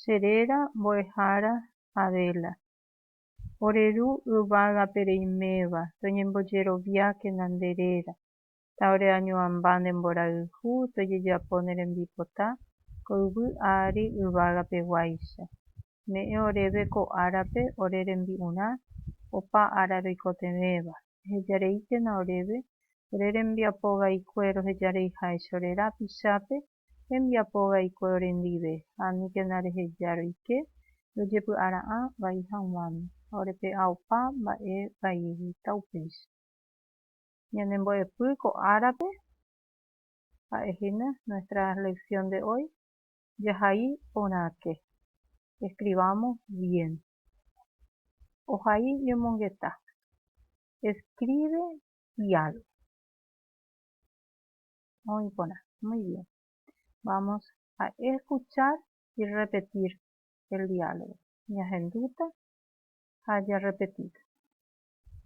che réra mbo'ehára Adela. Ore Ru yvágape reiméva, toñembojeroviákena nde réra, ta ore añoamba nde mborayhu tojejapo ne rembipota ko yvy ári yvágape guáicha. Me'ẽ oréve ko árape ore rembi'urã opa ára roikotevẽva, ehejareíkena oréve ore rembiapo vaikue rohejareiháicha ore rápichápe hembiapo vaikue orendive, ha aníkena reheja roike, rojepy'ara'ã vai haguãme, ha orepe'a opa mba'e vaieguita upéicha. Ñane mbo'epy ko árape, ha'e hína nuestra lección de hoy, jahai porãke, escribamos bien. Ohai ñomongeta, escribe y algo. Oĩ porã. Muy bien. Vamos a escuchar y repetir el diálogo. Ñahendúta ha jarrepetíta.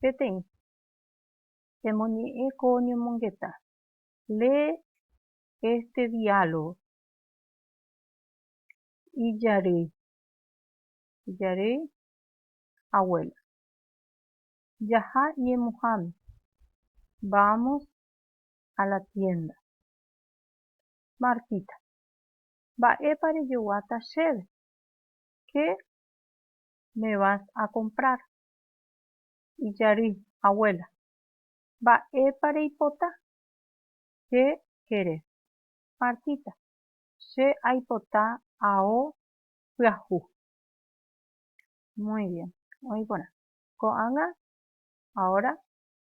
Peteĩ. Emoñe'ẽ ko ñomongeta. Lee este diálogo. Ijarýi. Ijarýi abuela. Jaha ñemuháme. Vamos ha la tiénda. Martíta, Mba'épa rejoguáta chéve? Qué me vas a comprar? Ijary, Abuela, mba'épa reipota? Qué querés? Martíta, Che aipota ao pyahu. Muy bien, oĩ porã. Ko'ág̃a ahora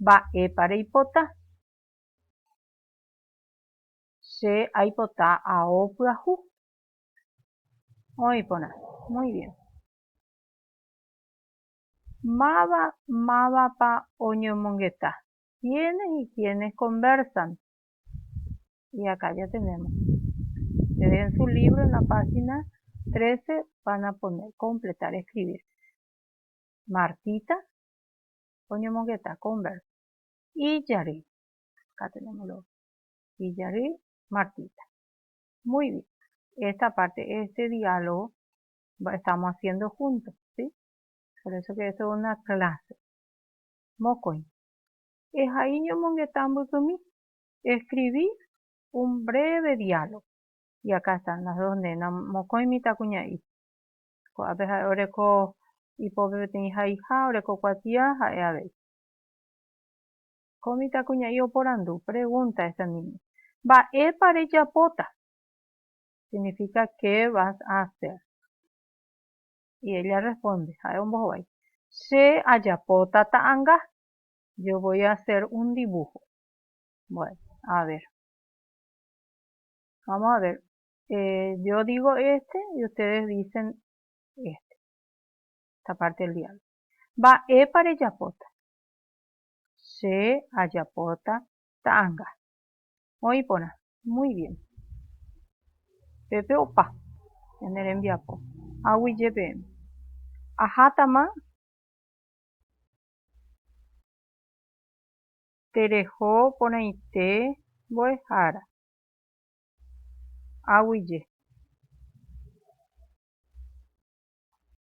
Mba'épa reipota? Che aipota ao pyahu. Oĩ porã. Muy bien. Máva mávapa oñomongeta? Quiénes y quiénes conversan? Y acá ya tenemos. Ustedes en su libro, en la página 13, van a poner completar escribir. Martita, oñomongeta ko verbo. Ijary. Katu ñamoro. Ijary Martita. Muy bien. Esta parte, este diálogo estamos haciendo juntos, ¿sí? Por eso que esto es una clase. Mokõi. Ehai ñomongeta mbykymi. Escribí un breve diálogo. Y acá están las dos nenas. Mokõi mitãkuña'i. Ko'ápe ha'e oreko ipópe peteĩ haiha oreko kuatia ha'e avei. Ko mitãkuña'i oporandu, pregunta, esta niña, Mba'épa rejapóta? Significa qué vas a hacer? Y ella responde, ha'e ombohovái, Che ajapóta ta'anga. Yo voy a hacer un dibujo. Bueno, a ver. Vamos a ver Eh, yo digo éste y ustedes dicen éste. Esta parte del diálogo. Mba'épa rejapóta? Che ajapóta ta'anga. Oĩ porã. Muy bien. Pépe opa. Ñane rembiapo. Aguyje peẽme. Ahátama tereho porãite mbo'ehára. aguije.